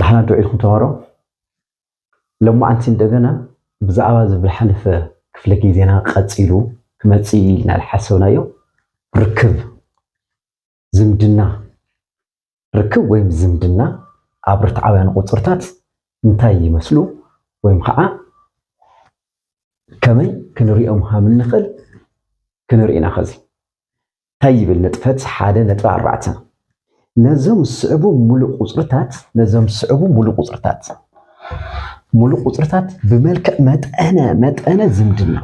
ንሕና ዶ ኢልኩም ተማሃሮ ሎማዓንቲ እንደገና ብዛዕባ እዚ ዝሓለፈ ክፍለ ግዜና ቀጺሉ ክመጽእ ኢልና ዝሓሰብናዮ ርክብ ዝምድና ርክብ ወይም ዝምድና ኣብ ርትዓውያን ቁጽርታት እንታይ ይመስሉ ወይም ከዓ ከመይ ክንሪኦም ሃም እንኽእል ክንርኢና ኸዚ እንታይ ይብል ንጥፈት ሓደ ነጥቢ ኣርባዕተ ነዞም ዝስዕቡ ሙሉእ ቁፅርታት ነዞም ዝስዕቡ ሙሉእ ቁፅርታት ሙሉእ ቁፅርታት ብመልክዕ መጠነ መጠነ ዝምድና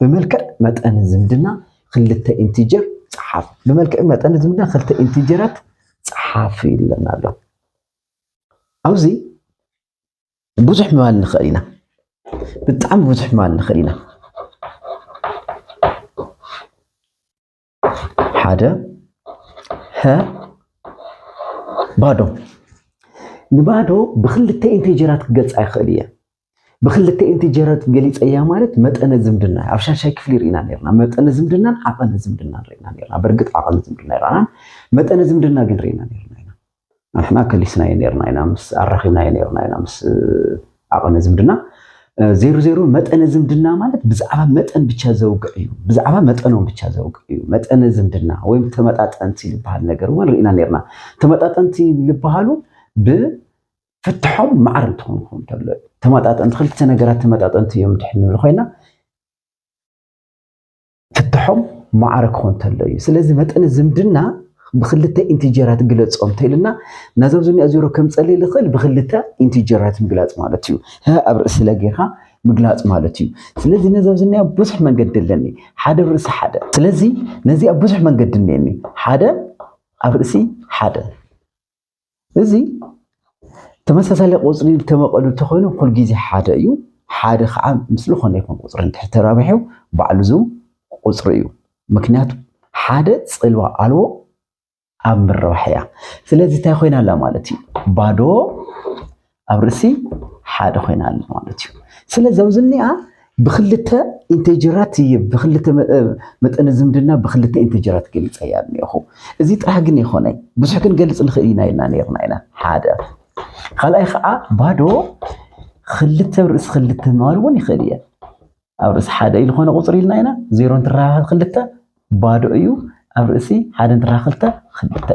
ብመልክዕ መጠነ ዝምድና ክልተ ኢንቲጀር ፀሓፍ። ብመልክዕ መጠን ዝምዳ ክልተ ኢንቲጀራት ፀሓፍ ይብለና ኣሎ። ኣብዚ ብዙሕ ምባል ንኽእል ኢና፣ ብጣዕሚ ብዙሕ ምባል ንኽእል ኢና። ሓደ ሀ ባዶ ንባዶ ብክልተ ኢንቲጀራት ክገልፃ ይኽእል እየ። ብክልተኤንቲ ጀረት ገሊጸያ ማለት መጠነ ዝምድና ኣብ ሻሻይ ክፍሊ ርኢና ነርና መጠነ ዝምድናን ዓቐነ ዝምድናን ርኢና ነርና በርግጥ ዓቐነ ዝምድና ይርኣናን መጠነ ዝምድና ግን ርኢና ነርና ኢና ንሕና ከሊስናዮ ነርና ኢና ምስ ኣራኺብናዮ ነርና ኢና ምስ ዓቐነ ዝምድና ዜሮ ዜሮ መጠነ ዝምድና ማለት ብዛዕባ መጠን ብቻ ዘውግዕ እዩ ብዛዕባ መጠኖም ብቻ ዘውግዕ እዩ መጠነ ዝምድና ወይም ተመጣጠንቲ ዝበሃል ነገር እውን ርኢና ነርና ተመጣጠንቲ ዝበሃሉ ብ ፍትሖም ማዕረ እንትኾን ክኾን እንተሎ እዩ። ተመጣጠንቲ ክልተ ነገራት ተመጣጠንቲ እዮም እንድሕር ንብል ኮይና ፍትሖም ማዕረ ክኾን እንተሎ እዩ። ስለዚ መጠነ ዝምድና ብክልተ ኢንቲጀራት ግለጾ እንተኢልና ነዞም ዝኒኦ ዜሮ ከም ጸልይ ዝኽእል ብክልተ ኢንቲጀራት ምግላጽ ማለት እዩ። ሀ ኣብ ርእሲ ለ ጌርካ ምግላጽ ማለት እዩ። ስለዚ ነዚ ኣብዚ እኒኣ ብዙሕ መንገዲ ኣለኒ ሓደ ኣብ ርእሲ ሓደ። ስለዚ ነዚኣ ብዙሕ መንገዲ እኒአኒ ሓደ ኣብ ርእሲ ሓደ እዚ ተመሳሳሊ ቁፅሪ ተመቐሉ እንተኾይኑ ኩል ግዜ ሓደ እዩ። ሓደ ከዓ ምስ ዝኾነ ይኹን ቁፅሪ እንድሕር ተራቢሑ ባዕሉ ዝው ቁፅሪ እዩ። ምክንያቱ ሓደ ፅልዋ ኣልቦ ኣብ ምርባሕ እያ። ስለዚ እንታይ ኮይና ኣላ ማለት እዩ ባዶ ኣብ ርእሲ ሓደ ኮይና ኣለ ማለት እዩ። ስለዚ ኣብዚ እኒኣ ብክልተ ኢንቴጀራት እየ ብክልተ መጠነ ዝምድና ብክልተ ኢንቴጀራት ገሊፀ እያ እኒኹ እዚ ጥራሕ ግን የኮነይ ብዙሕ ክንገልፅ ንኽእል ኢና ኢልና ነርና ኢና ሓደ ካልኣይ ከዓ ባዶ ክልተ ርእሲ ክልተ ምባል እውን ይኽእል እየ ኣብ ርእሲ ሓደ እዩ ዝኾነ ቁፅሪ ኢልና ኢና ዜሮ እንትራኸብ ክልተ ባዶ እዩ ኣብ ርእሲ ሓደ እንትራኸብ ክልተ ክልተ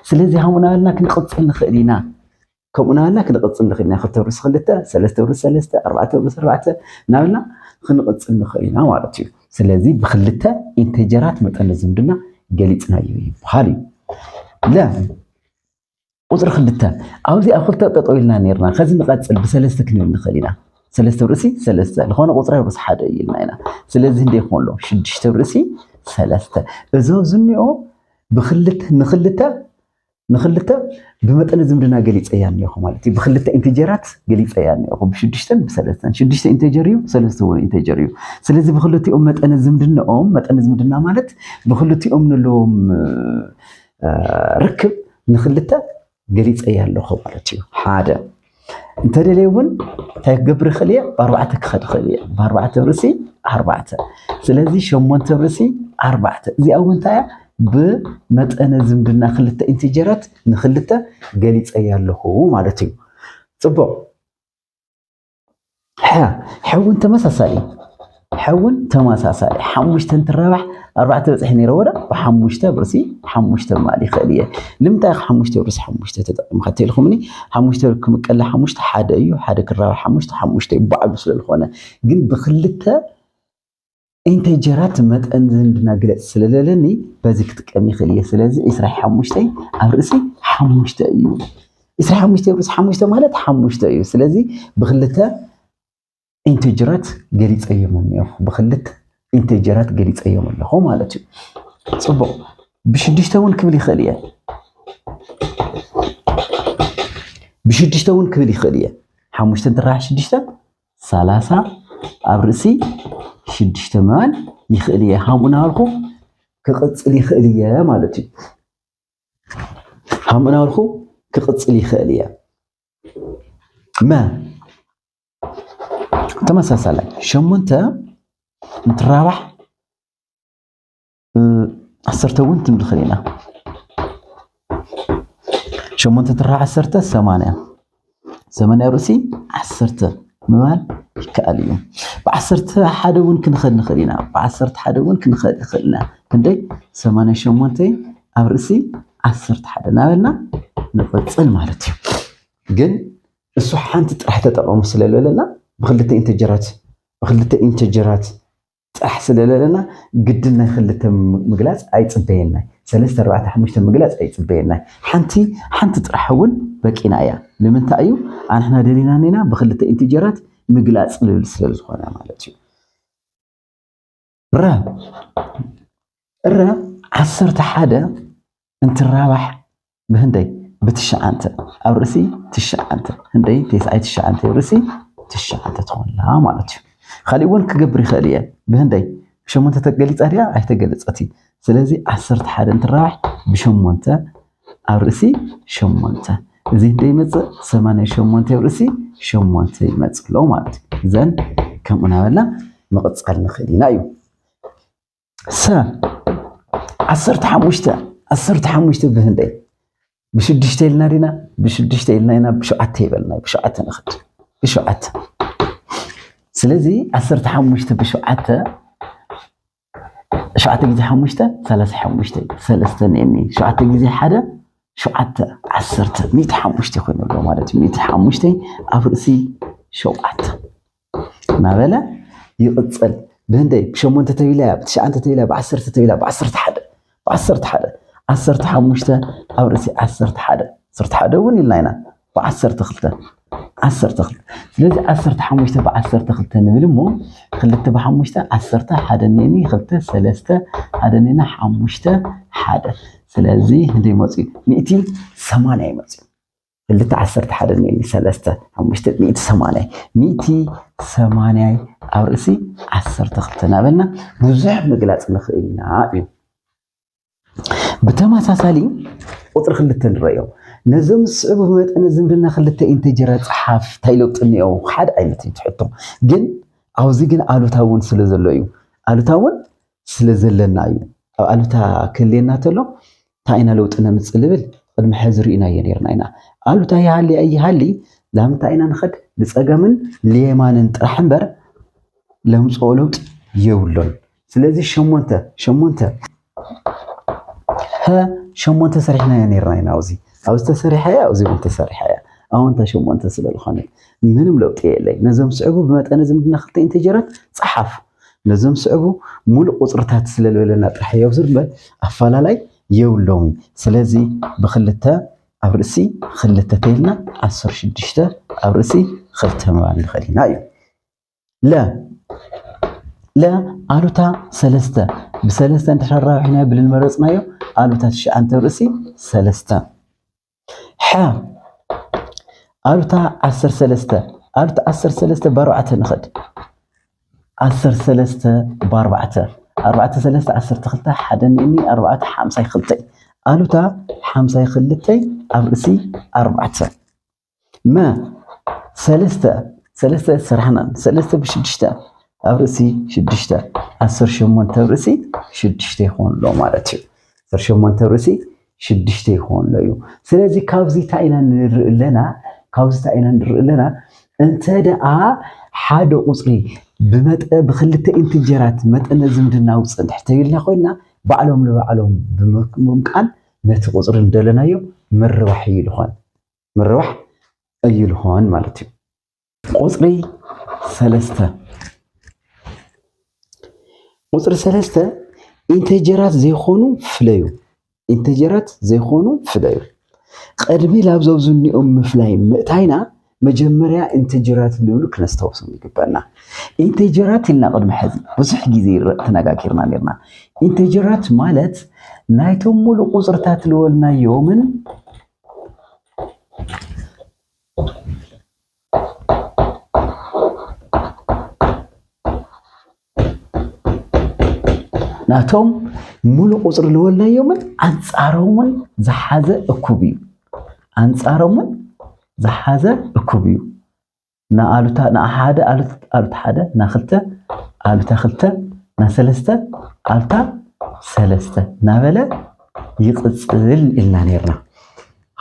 ስለዚ ሃሙና ኢልና ክንቅፅል ንኽእል ኢና ከምኡ ናበልና ክንቕፅል ንኽእል ኢና ክልተ ውርስ ክልተ ሰለስተ ውርስ ሰለስተ ኣርባዕተ ውርስ ኣርባዕተ ናበልና ክንቕፅል ንኽእል ኢና ማለት እዩ ስለዚ ብክልተ ኢንቴጀራት መጠን ዝምድና ገሊፅናዮ ይበሃል እዩ ለ ቁፅሪ ክልተ ኣብዚ ኣብ ክልተ ጠጠው ኢልና ነርና ከዚ ንቐፅል ብሰለስተ ክንብል ንኽእል ኢና ሰለስተ ርእሲ ሰለስተ ዝኾነ ቁፅሪ ርእሲ ሓደ እዩ ኢልና ኢና ስለዚ እንደ ይኸውን ኣሎ ሽዱሽተ ርእሲ ሰለስተ እዞ ዝኒኦ ብክልተ ንክልተ ንክልተ ብመጠነ ዝምድና ገሊፀያ እኒኦኹ ማለት እዩ። ብክልተ ኢንቴጀራት ገሊፀያ እኒኦኹ ብሽዱሽተን ብሰለስተን። ሽዱሽተ ኢንቴጀር እዩ፣ ሰለስተ እውን ኢንቴጀር እዩ። ስለዚ ብክልቲኦም መጠነ ዝምድናኦም መጠነ ዝምድና ማለት ብክልቲኦም ዘለዎም ርክብ ንክልተ ገሊፀያ ኣለኹ ማለት እዩ። ሓደ እንተደልየ እውን እንታይ ክገብር ይኽእል እየ ብኣርባዕተ ክኸድ ይኽእል እየ ብኣርባዕተ ብርእሲ ኣርባዕተ ስለዚ ሸሞንተ ብርእሲ ኣርባዕተ እዚኣ እውን እንታይ እያ ብመጠነ ዝምድና ክልተ ኢንቲጀራት ንክልተ ገሊፀያ ኣለኹ ማለት እዩ ፅቡቕ ሕውን ተመሳሳሊ ሕውን ተመሳሳሊ ሓሙሽተ እንትራባሕ ኣርባዕተ በፅሒ ነይረ ወደ ብሓሙሽተ ብርሲ ሓሙሽተ ምባል ይኽእል እየ ልምንታይ ኸ ሓሙሽተ ብርሲ ሓሙሽተ ተጠቂምካ ተልኩምኒ ሓሙሽተ ክምቀለ ሓሙሽተ ሓደ እዩ ሓደ ክራባሕ ሓሙሽተ ሓሙሽተ እዩ ባዕሉ ስለዝኾነ ግን ብክልተ ኢንተይ ጀራት መጠን ዝምድና ግለጽ ስለለለኒ በዚ ክጥቀም ይኽእል እየ። ስለዚ ዕስራ ሓሙሽተ ኣብ ርእሲ ሓሙሽተ እዩ። ዕስራ ሓሙሽተ ኣብ ርእሲ ሓሙሽተ ማለት ሓሙሽተ እዩ። ስለዚ ብክልተ ኢንተጀራት ገሊፀዮም እኒኦ ብክልተ ኢንተጀራት ገሊፀዮም ኣለኹ ማለት እዩ። ፅቡቕ ብሽዱሽተ እውን ክብል ይኽእል እየ። ብሽዱሽተ እውን ክብል ይኽእል እየ። ሓሙሽተ እንትራሓ ሽዱሽተ ሰላሳ ኣብ ርእሲ ሽዱሽተ ምባል ይኽእል እየ ከምኡ እናበልኩ ክቕፅል ይኽእል እየ ማለት እዩ። ከምኡ እናበልኩ ክቕፅል ይኽእል እየ። መ ተመሳሳላይ ሸሞንተ እንትራባሕ ዓሰርተ እውን ትም ንኽእል ኢና ሸሞንተ ትራ ዓሰርተ ሰማንያ ሰማንያ ርእሲ ዓሰርተ ምባል ይከኣል እዩ ብዓሰርተ ሓደ እውን ክንኸድ ንኽእል ኢና ብዓሰርተ ሓደ እውን ክንኸድ ንኽእል ኢና ክንደይ ሰማንያ ሸሞንተ ኣብ ርእሲ ዓሰርተ ሓደ እናበልና ንቕፅል ማለት እዩ ግን እሱ ሓንቲ ጥራሕ ተጠቐሙ ስለዝበለና ብክልተ ኢንተጀራት ብክልተ ኢንተጀራት ጻሕ ስለለለና ግድን ናይ ክልተ ምግላጽ ኣይጽበየናይ ሰለስተ ኣርባዕተ ሓሙሽተ ምግላጽ ኣይጽበየናይ ሓንቲ ሓንቲ ጥራሕ እውን በቂና እያ ንምንታይ እዩ ኣንሕና ደሊና ኔና ብክልተ ኢንቲጀራት ምግላጽ ልብል ስለዝኾነ ማለት እዩ ረ ረ ዓሰርተ ሓደ እንትራባሕ ብህንደይ ብትሽዓንተ ኣብ ርእሲ ትሽዓንተ ህንደይ ቴስኣይ ትሽዓንተ ኣብ ርእሲ ትሽዓንተ ትኾንላ ማለት እዩ። ካሊእ እውን ክገብር ይኽእል እየ ብህንደይ ብሸሞንተ ተገሊፃ ድያ ኣይተገለፀት እዩ። ስለዚ ዓሰርተ ሓደ እንትራባሕ ብሸሞንተ ኣብ ርእሲ ሸሞንተ እዚ ህንደይ ይመፅእ ሰማንያ ሸሞንተ ኣብ ርእሲ ሸሞንተ ይመፅእ ኣሎ ማለት እዩ። እዘን ከምኡ ናበልና ምቕፃል ንኽእል ኢና እዩ። ሰ ዓሰርተ ሓሙሽተ ዓሰርተ ሓሙሽተ ብህንደይ ብሽዱሽተ ኢልና ዲና ብሽዱሽተ ኢልና ኢና ብሸውዓተ ይበልና ብሸውዓተ ንኽድ ብሸውዓተ ስለዚ ዓሰርተ ሓሙሽተ ብሸውዓተ ሸውዓተ ግዜ ሓሙሽተ ሰላሳ ሓሙሽተ ሰለስተ ኔኒ ሸውዓተ ግዜ ሓደ ሸውዓተ ዓሰርተ ሚእቲ ሓሙሽተ ኮይኑ ኣሎ ማለት እዩ ሚእቲ ሓሙሽተ ኣብ ርእሲ ሸውዓተ እናበለ ይቕጽል። ብህንደይ ብሸሞንተ ተቢላ፣ ብትሽዓንተ ተቢላ፣ ብዓሰርተ ተቢላ፣ ብዓሰርተ ሓደ፣ ብዓሰርተ ሓደ፣ ዓሰርተ ሓሙሽተ ኣብ ርእሲ ዓሰርተ ሓደ፣ ዓሰርተ ሓደ እውን ኢልና ኢና፣ ብዓሰርተ ክልተ፣ ዓሰርተ ክልተ። ስለዚ ዓሰርተ ሓሙሽተ ብዓሰርተ ክልተ ንብል እሞ ክልተ ብሓሙሽተ ዓሰርተ ሓደ ኔኒ ክልተ ሰለስተ ሓደ ኔና ሓሙሽተ ሓደ። ስለዚ ህንደይ መፅኡ ሚእቲ ሰማንያ ይመፅኡ። ክልተ ዓሰርተ ሓደ ኔኒ ሰለስተ ሓሙሽተ ሚእቲ ሰማንያይ ሚእቲ ሰማንያይ ኣብ ርእሲ ዓሰርተ ክልተ እናበልና ብዙሕ ምግላፅ ንኽእል ኢና እዩ። ብተመሳሳሊ ቁፅሪ ክልተ ንረዮ ነዞም ዝስዕቡ መጠነ ዝምድና ክልተ ኢንተጀራ ፀሓፍ እንታይ ለውጢ እኒኦ? ሓደ ዓይነት እዩ ትሕቶ ግን ኣብዚ ግን ኣሉታ እውን ስለ ዘሎ እዩ ኣሉታ እውን ስለ ዘለና እዩ። ኣብ ኣሉታ ክህልየና ተሎ ታይ ኢና ለውጢ ነምፅእ ልብል ቕድሚ ሐዚ ርኢናዮ ነርና ኢና። ኣሉታ ይሃሊ ኣይሃሊ ላምንታይ ኢና ንኸድ ልፀገምን ልየማንን ጥራሕ እምበር ለምፅኦ ለውጢ የብሉን። ስለዚ ሸሞንተ ሸሞንተ ሀ ሸሞንተ ሰሪሕናዮ ነርና ኢና ኣብዚ ኣብዚ ተሰሪሐ እያ ኣብዚ እውን ተሰሪሐ እያ ኣወንታ ሸሞንተ ስለ ዝኾነት ምንም ለውጢ የለይ። ነዞም ስዕቡ ብመጠነ ዝምድና ክልተ ኢንተጀራት ፀሓፉ። ነዞም ዝስዕቡ ሙሉእ ቁፅርታት ስለልበለና ጥራሕ የብዙር እምበር ኣፋላላይ የብሎምን። ስለዚ ብክልተ ኣብ ርእሲ ክልተ ተይልና ዓሰርተ ሽዱሽተ ኣብ ርእሲ ክልተ ምባል ንኽእል ኢና እዩ። ለ ለ ኣሉታ ሰለስተ ብሰለስተ እንድሕር ኣራዊሕናዮ ብልንመረፅናዮ ኣሉታ ትሽዓንተ ኣብ ርእሲ ሰለስተ ሐ ኣሉታ ዓሰርተ ሰለስተ ኣሉታ ዓሰርተ ሰለስተ ብኣርባዕተ ንኸድ ዓሰርተ ሰለስተ ብኣርባዕተ ኣርባዕተ ሰለስተ ዓሰርተ ክልተ ሓደ ንእኒ ኣርባዕተ ሓምሳይ ክልተይ ኣሉታ ሓምሳይ ክልተይ ኣብ ርእሲ ኣርባዕተ መ ሰለስተ ሰለስተ ስራሕናን ሰለስተ ብሽዱሽተ ኣብ ርእሲ ሽዱሽተ ዓሰርተ ሸሞንተ ኣብ ርእሲ ሽዱሽተ ይኾን ኣሎ ማለት እዩ። ዓሰርተ ሸሞንተ ኣብ ርእሲ ሽዱሽተ ይኾን ኣሎ እዩ። ስለዚ ካብዚ እንታይ ኢና ንርኢ ኣለና? ካብዚ እንታይ ኢና ንርኢ ኣለና? እንተ ደኣ ሓደ ቁፅሪ ብመጠ ብክልተ ኢንትጀራት መጠነ ዝምድና ውፅእ ድሕር ተይልና ኮይና ባዕሎም ንባዕሎም ብምምቃል ነቲ ቁፅሪ እንደለናዮ ምርባሕ እዩ ዝኾን። ምርባሕ ኣይልሆን ማለት እዩ። ቁፅሪ ሰለስተ ቁፅሪ ሰለስተ ኢንተጀራት ዘይኮኑ ፍለዩ ኢንተጀራት ዘይኮኑ ፍለዩ ቅድሚ ላብ ዘብዝኒኦም ምፍላይ ምእታይና መጀመርያ ኢንተጀራት ዝብሉ ክነስታውሶም ይግበና። ኢንተጀራት ኢልና ቅድሚ ሕዚ ብዙሕ ግዜ ተነጋጊርና ነርና። ኢንተጀራት ማለት ናይቶም ሙሉእ ቁፅርታት ልወልናዮምን ናቶም ሙሉእ ቁፅሪ ልወልናዮምን ኣንፃሮምን ዝሓዘ እኩብ እዩ ኣንፃሮምን ዝሓዘ እኩብ እዩ ን ኣሉታ ን ሓደ ኣሉታ ሓደ ን ክልተ ኣሉታ ክልተ ን ሰለስተ ኣሉታ ሰለስተ እናበለ ይቕጽል ኢልና ነርና።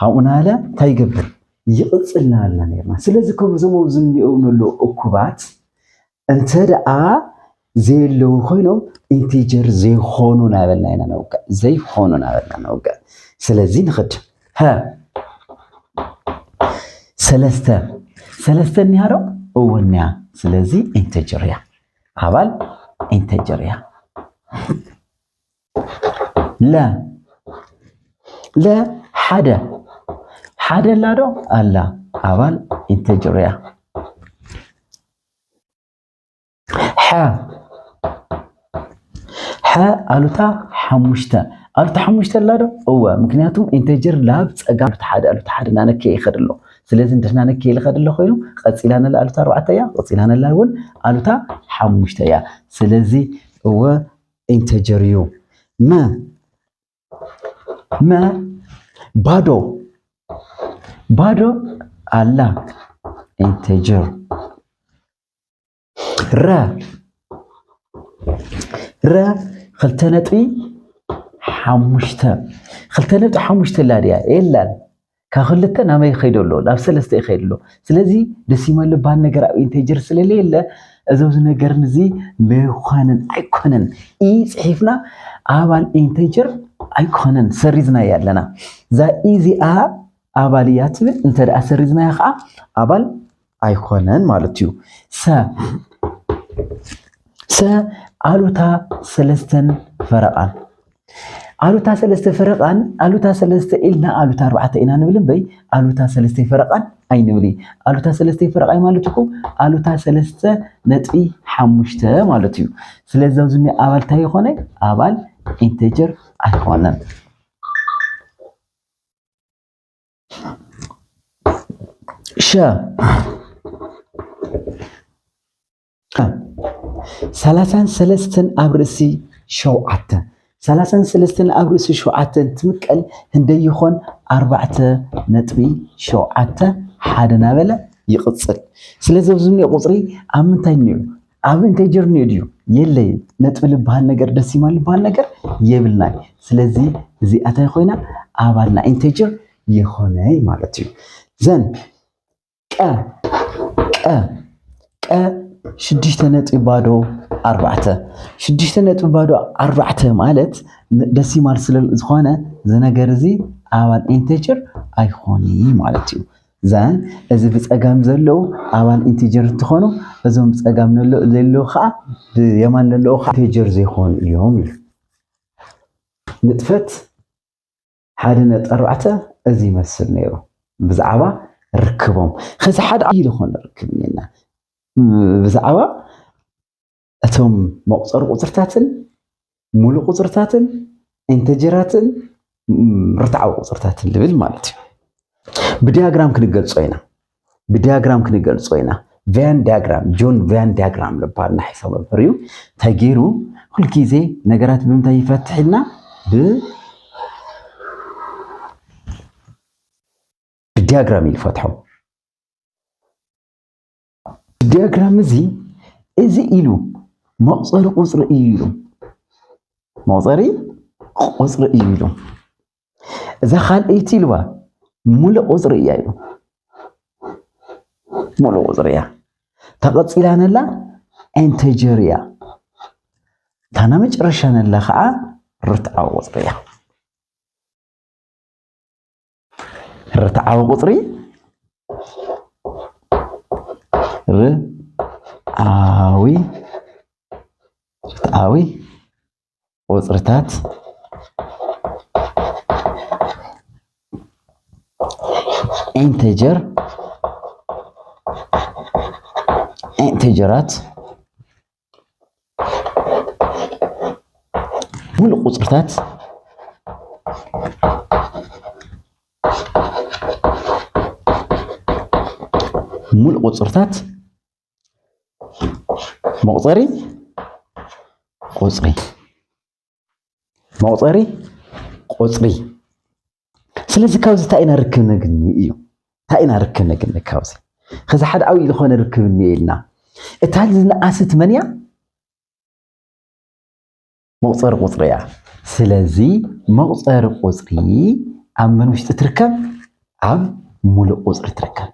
ካብኡ ናበለ እንታይ ይገብር ይቕጽል ናበልና ነርና። ስለዚ ከምዞም ኣብዚ እንሪኦም ነለዉ እኩባት እንተደኣ ዘየለዉ ኮይኖም ኢንቲጀር ዘይኾኑ ናበልና ኢና ነውግዕ ዘይኾኑ ናበልና ነውግዕ ስለዚ ንኽድ ሀ ሰለስተ ሰለስተ እኒሃ ዶ እውን እኒያ ስለዚ ኢንቲጀር እያ ኣባል ኢንቲጀር እያ ለ ለ ሓደ ሓደ ኣላ ዶ ኣላ ኣባል ኢንቲጀር እያ ሐ ሐ ኣሉታ ሓሙሽተ ኣሉታ ሓሙሽተ ኣላ ዶ እወ ምክንያቱም ኢንተጀር ላብ ፀጋም ኣሉታ ሓደ ኣሉታ ሓደ ናነከየ ይኸድ ኣሎ ስለዚ እንደናነከየ ልኸድ ኣሎ ኮይኑ ቀፂላ ነላ ኣሉታ ኣርባዕተ እያ ቀፂላ ነላ እውን ኣሉታ ሓሙሽተ እያ ስለዚ እወ ኢንተጀር እዩ መ መ ባዶ ባዶ ኣላ ኢንቴጀር ረ ረ ክልተ ነጥቢ ሓሙሽተ ክልተ ነጥቢ ሓሙሽተ ኣላ ድያ የላን ካብ ክልተ ናበይ ይኸይዶ ኣሎ ናብ ሰለስተ ይኸይድ ኣሎ ስለዚ ደሲማል ዝበሃል ነገር ኣብ ኢንቴጀር ስለለየለ እዚ ኣብዚ ነገር እዚ ምዃንን ኣይኮነን ኢ ፅሒፍና ኣባል ኢንቴጀር ኣይኮነን ሰሪዝናያ ኣለና እዛ ኢዚኣ ኣባል እያ ትብል እንተደኣ ሰሪዝናያ ከዓ ኣባል ኣይኮነን ማለት እዩ። ሰ ሰ ኣሉታ ሰለስተን ፈረቓን ኣሉታ ሰለስተ ፈረቓን ኣሉታ ሰለስተ ኢልና ኣሉታ ኣርባዕተ ኢና ንብል እምበይ ኣሉታ ሰለስተ ፈረቓን ኣይንብል ኣሉታ ሰለስተ ፈረቓይ ማለት እኮ ኣሉታ ሰለስተ ነጥቢ ሓሙሽተ ማለት እዩ ስለዚ ኣብዚ ኣባል እንታይ ይኾነ ኣባል ኢንቴጀር ኣይኮነን ሸ ሰላሳን ሰለስተን ኣብ ርእሲ ሸውዓተ ሰላሳን ሰለስተን ኣብ ርእሲ ሸውዓተ እንትምቀል ህንደይ ይኾን ኣርባዕተ ነጥቢ ሸውዓተ ሓደ ናበለ ይቕፅል። ስለዚ ኣብዚ እኒኦ ቁፅሪ ኣብ ምንታይ እኒኦ ኣብ እንታይ ጀርኒ ድዩ የለይ ነጥቢ ልበሃል ነገር ደሲማ ልበሃል ነገር የብልናይ ስለዚ እዚኣታይ ኮይና ኣባል ናይ ኢንቴጀር የኾነይ ማለት እዩ ዘን ቀ ቀ ቀ ሽዱሽተ ነጥቢ ባዶ ኣርባዕተ ሽዱሽተ ነጥቢ ባዶ ኣርባዕተ ማለት ደሲማል ስለዝኾነ ዝነገር እዚ ኣባል ኢንቴጀር ኣይኾነይ ማለት እዩ ዛን እዚ ብጸጋም ዘለዉ ኣባል ኢንቲጀር እንትኾኑ እዞም ብጸጋም ዘለዉ ከዓ ብየማን ዘለዉ ከዓ ኢንቲጀር ዘይኮኑ እዮም ኢሉ ንጥፈት ሓደ ነጥቢ ኣርባዕተ እዚ ይመስል ነይሩ ብዛዕባ ርክቦም። ከዚ ሓደ ዓብዪ ዝኾነ ርክብ እኔና ብዛዕባ እቶም መቁፀሪ ቁፅርታትን ሙሉእ ቁፅርታትን ኢንተጀራትን ርትዓዊ ቁፅርታትን ልብል ማለት እዩ ብዲያግራም ክንገልጾ ኢና ብዲያግራም ክንገልጾ ኢና ቫያን ዲያግራም ጆን ቫያን ዲያግራም ልበሃል ናሒሶ መምህር እዩ እንታይ ገይሩ ኩልግዜ ነገራት ብምንታይ ይፈትሕ ኢልና ብዲያግራም እዩ ዝፈትሖም ኣብቲ ዲያግራም እዚ እዚ ኢሉ መቑፀሪ ቁፅሪ እዩ ኢሉ መቑፀሪ ቁፅሪ እዩ ኢሉ እዛ ካልኣይቲ ኢልዋ ሙሉእ ቁፅሪ እያ ኢሉ ሙሉእ ቁፅሪ እያ ተቐፂላ ነላ ኢንተጀር እያ እታ ናይ መጨረሻ ነላ ከዓ ርትዓዊ ቁፅሪ እያ ርትዓዊ ቁፅሪ ርትዓዊ ርትዓዊ ቁፅርታት ኢንተጀር ኢንተጀራት ሙሉእ ቁፅርታት ሙሉእ ቁፅርታት መቁፀሪ ቁፅሪ መቑፀሪ ቁፅሪ ስለዚ ካብዚ እንታይ ኢና ርክብ ነግኒ እዩ እንታይ ኢና ርክብ ነግኒ ካብዚ ከዚ ሓደ ዓብዪ ዝኾነ ርክብ እኒአ ኢልና እታ ዝነኣሰት መን እያ መቑፀሪ ቁፅሪ እያ ስለዚ መቑፀሪ ቁፅሪ ኣብ መን ውሽጢ ትርከብ ኣብ ሙሉእ ቁፅሪ ትርከብ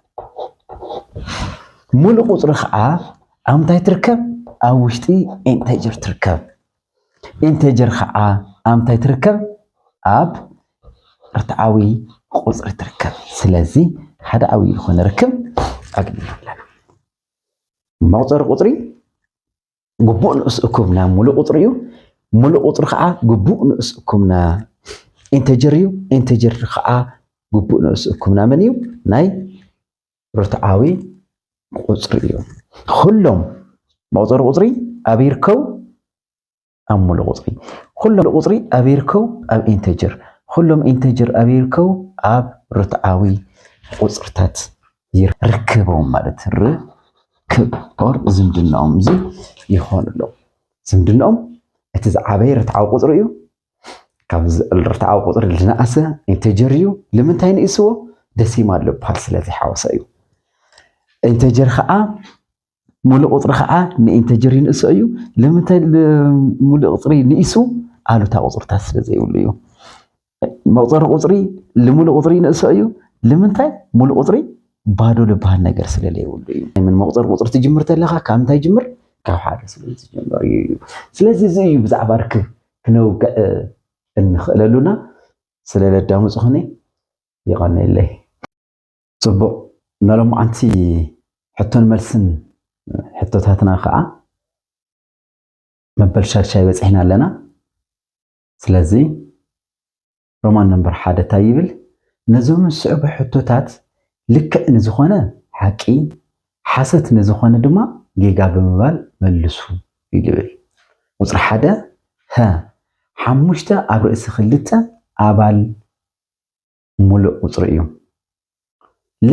ሙሉእ ቁፅሪ ከዓ ኣብ እንታይ ትርከብ ኣብ ውሽጢ ኢንተጀር ትርከብ ኢንተጀር ኸዓ ኣብ እንታይ ትርከብ? ኣብ ርትዓዊ ቁፅሪ ትርከብ። ስለዚ ሓደ ዓብዪ ዝኾነ ርክብ ኣግኒና ኣለና። መቑፀሪ ቁፅሪ ግቡእ ንኡስ እኩብ ናብ ሙሉእ ቁፅሪ እዩ። ሙሉእ ቁፅሪ ኸዓ ግቡእ ንኡስ እኩብ ና ኢንተጀር እዩ። ኢንተጀር ኸዓ ግቡእ ንኡስ እኩብ ና መን እዩ? ናይ ርትዓዊ ቁፅሪ እዩ። ኩሎም መቁፀሪ ቁፅሪ ኣብ ይርከቡ ኣብ ሙሉእ ቁፅሪ፣ ኩሎም ቁፅሪ ኣብ ይርከቡ ኣብ ኢንተጀር፣ ኩሎም ኢንተጀር ኣብ ይርከቡ ኣብ ርትዓዊ ቁፅርታት ይርከቦም ማለት ርክብ ኦር ዝምድናኦም እዚ ይኾን ኣሎ። ዝምድናኦም እቲ ዝዓበየ ርትዓዊ ቁፅሪ እዩ። ካብዚ ዕልርትዓዊ ቁፅሪ ዝነኣሰ ኢንተጀር እዩ ልምንታይ ንእስዎ ደሲማ ኣሎ በሃል ስለዘይሓወሰ እዩ ኢንተጀር ከዓ ሙሉእ ቁፅሪ ከዓ ንኢንተጀር ይንእሶ እዩ ልምንታይ ሙሉእ ቁፅሪ ንኢሱ ኣሉታ ቁፅርታት ስለዘይብሉ እዩ መቁፀሪ ቁፅሪ ልሙሉእ ቁፅሪ ይንእሶ እዩ ልምንታይ ሙሉእ ቁፅሪ ባዶ ልበሃል ነገር ስለዘይብሉ እዩ ምን መቁፀሪ ቁፅሪ ትጅምር ተለካ ካብ እንታይ ጅምር ካብ ሓደ ስለ ዝጀመር እዩ ስለዚ እዚ እዩ ብዛዕባ ርክብ ክነውግዕ እንኽእለሉና ስለ ለዳመፅኹኒ ይቐንየለይ። ፅቡቕ ናሎማዓንቲ ሕቶን መልስን ሕቶታትና ከዓ መበል ሻድሻይ በፂሕና ኣለና ስለዚ ሮማን ነምበር ሓደ ታይ ይብል? ነዞም ዝስዕቡ ሕቶታት ልክዕ ንዝኾነ ሓቂ፣ ሓሰት ንዝኾነ ድማ ጌጋ ብምባል መልሱ እዩ ልብል። ቁፅሪ ሓደ፣ ሀ፣ ሓሙሽተ ኣብ ርእሲ ክልተ ኣባል ሙሉእ ቁፅሪ እዩ። ለ፣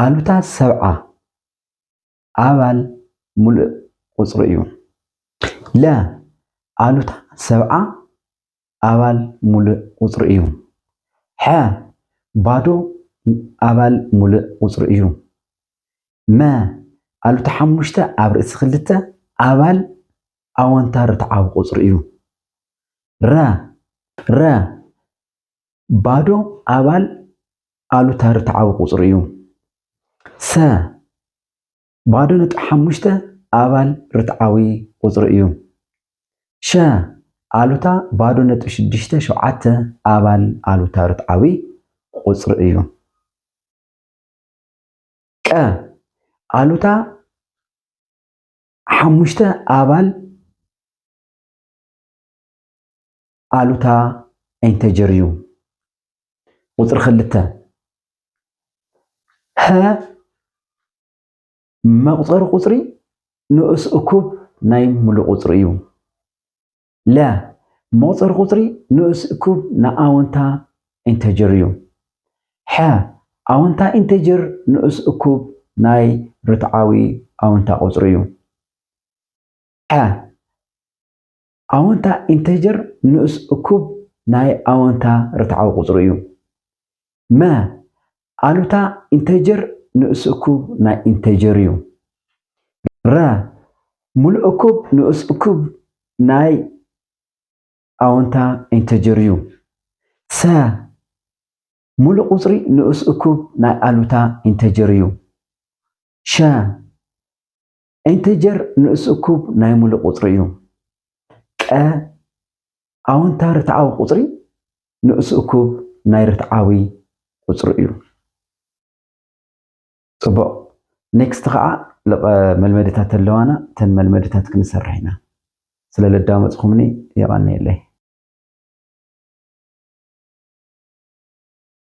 ኣሉታ ሰብዓ ኣባል ምሉእ ቁጽሪ እዩ። ለ። ኣሉታ ሰብዓ ኣባል ምሉእ ቁጽሪ እዩ። ሐ። ባዶ ኣባል ምሉእ ቁጽሪ እዩ። መ። ኣሉታ ሓሙሽተ ኣብ ርእሲ ክልተ ኣባል ኣወንታ ርትዓዊ ቁጽሪ እዩ። ረ። ረ። ባዶ ኣባል ኣሉታ ርትዓዊ ቁጽሪ እዩ። ሰ። ባዶ ነጥቢ ሓሙሽተ ኣባል ርትዓዊ ቁጽሪ እዩ። ሸ። ኣሉታ ባዶ ነጥቢ ሽዱሽተ ሸውዓተ ኣባል ኣሉታ ርትዓዊ ቁጽሪ እዩ። ቀ። ኣሉታ ሓሙሽተ ኣባል ኣሉታ ኢንተጀር እዩ። ቁፅሪ ክልተ ሀ መቁፀሪ ቁፅሪ ንኡስ እኩብ ናይ ሙሉእ ቁፅሪ እዩ። ለ መቁፀሪ ቁፅሪ ንኡስ እኩብ ናይ ኣወንታ ኢንተጀር እዩ። ሐ ኣወንታ ኢንተጀር ንኡስ እኩብ ናይ ርትዓዊ ኣወንታ ቁፅሪ እዩ። ሐ ኣወንታ ኢንተጀር ንኡስ እኩብ ናይ ኣወንታ ርትዓዊ ቁጽሪ እዩ። መ። ኣሉታ ኢንተጀር ንኡስ እኩብ ናይ ኢንተጀር እዩ። ረ። ሙሉእ እኩብ ንኡስ እኩብ ናይ ኣወንታ ኢንተጀር እዩ። ሰ። ሙሉእ ቁጽሪ ንኡስ እኩብ ናይ ኣሉታ ኢንተጀር እዩ። ሸ። ኢንተጀር ንኡስ እኩብ ናይ ሙሉእ ቁፅሪ እዩ። ቀ ኣወንታ ርትዓዊ ቁፅሪ ንኡስ እኩብ ናይ ርትዓዊ ቁፅሪ እዩ። ፅቡቕ ኔክስት ከዓ ልቐ መልመድታት ኣለዋና ተን መልመድታት ክንሰርሕ ኢና። ስለ ለዳመፅኹምኒ የቐንየለይ።